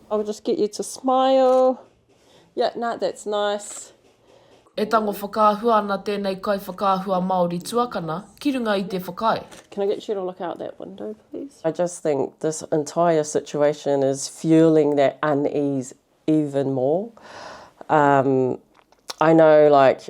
I'll just get you to smile. Yep, nah, that's nice. E tango whakaahua ana tēnei kaiwhakaahua Māori tuakana ki runga i te whakaae. Can I get you to look out that window, please? I just think this entire situation is fuelling that unease even more. I know like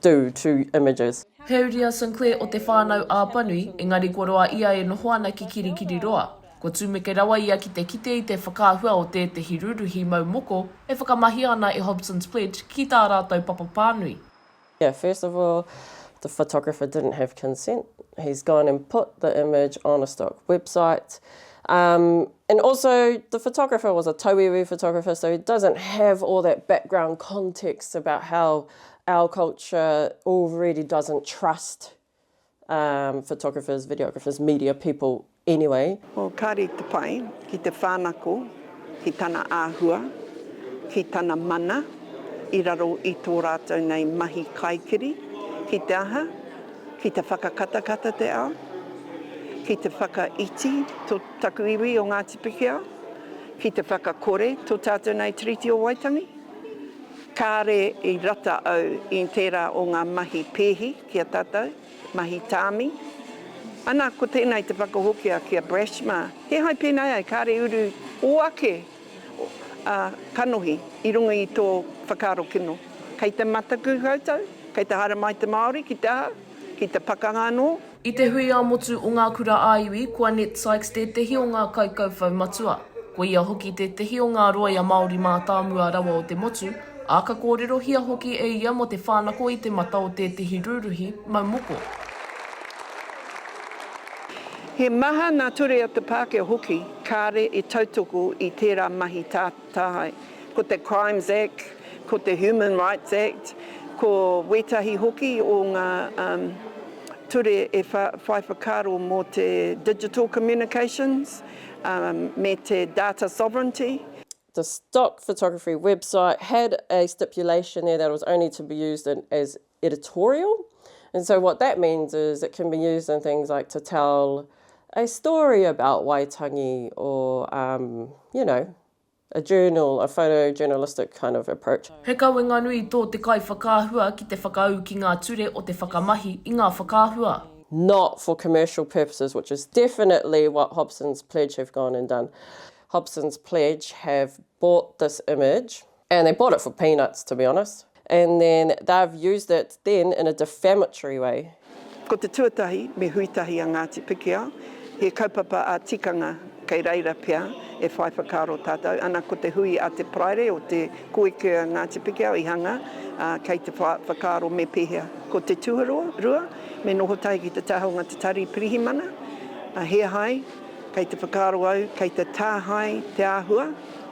do to images. He uriasun koe o te whānau Āpanui, engari kua roa ia e noho ana ki Kirikiriroa. Kua tumeke rawa ia ki te kite i te whakaahua o tētehi rūruhi mau moko e whakamahia ana e Hobson's Pledge ki tā rātou papa pānui. Yeah, first of all, the photographer didn't have consent. He's gone and put the image on a stock website. Um, And also the photographer was a tauiwi photographer so he doesn't have all that background context about how our culture already doesn't trust um photographers, videographers, media people anyway. Oh, kāre te pai ki te whānako ki tana āhua, ki tana mana i raro i tō rātou nei mahi kaikiri, ki te aha, ki te whakakatakata te ao, ki te whakaiti to Taku iwi o Ngāti Pikiao, ki te whakakore tō tātou nei Tiriti o Waitangi, kāre i rata au i tērā o ngā mahi pēhi ki a tātou, mahi tāmi. Ana, ko tēnei te whakahokia ki a Brash mā, kīhai pēnei ai, kāre i uru ō ake kanohi i runga i tō whakaaro kino. Kei te mataku koutou, kei te haere mai te Māori ki te aha, ki te pakanga anō. I te hui ā-motu o ngā kura ā-iwi, ko a Ned Sykes tētehi o ngā kaikauwhau matua. Ko ia hoki tētehi o ngā rōia Māori mātāmua rawa o te motu, ā, ka kōrerohia hoki e ia mō te whānako i te mata o tētehi rūruhi mau moko. He maha ngā ture o te Pākehā hoki kāre i tautoko i tērā mahi Tāhae. Ko te Crimes Act, ko te Human Rights Act, ko wētahi hoki o ngā ture e whai whakaaro mō te Digital Communications me te Data Sovereignty. The stock photography website had a stipulation there that it was only to be used as editorial and so what that means is it can be used in things like to tell a story about Waitangi or um, you know, a journal, a photojournalistic kind of approach. He kawenga nui tō te kaiwhakaahua ki te whakaū ki ngā ture o te whakamahi i ngā whakaahua. not for commercial purposes, which is definitely what Hobson's Pledge have gone and done. Hobson's Pledge have bought this image. And they bought it for peanuts to be honest and then they've used it then in a defamatory way. Ko te tuatahi, me hui tahi a Ngāti Pikiao, he kaupapa a tikanga kei reira pea e whai whakaaro tātou, ana ko te hui a te Paraire o te koeke a Ngāti Pikiao i hanga, ā, kei te wha, whakaaro me pēhea. Ko te tuarua, me noho tahi ki te taha o ngā te tari pirihimana, ā, he ahai, kei te whakaaro au, kei te tāhae te āhua,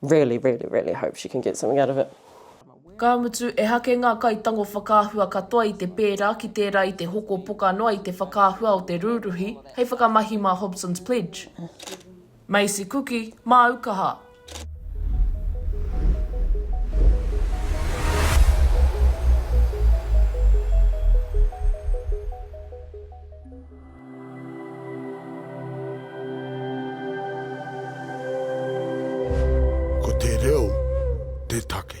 Really, really, really hope she can get something out of it. Ka mutu, ehake ngā kaitango whakaahua katoa i te pērā ki tērā i te hoko poka noa i te whakaahua o te rūruhi hei whakamahi mā Hobson's Pledge. Maisie Kuki, māu kaha. Ko te reo te take.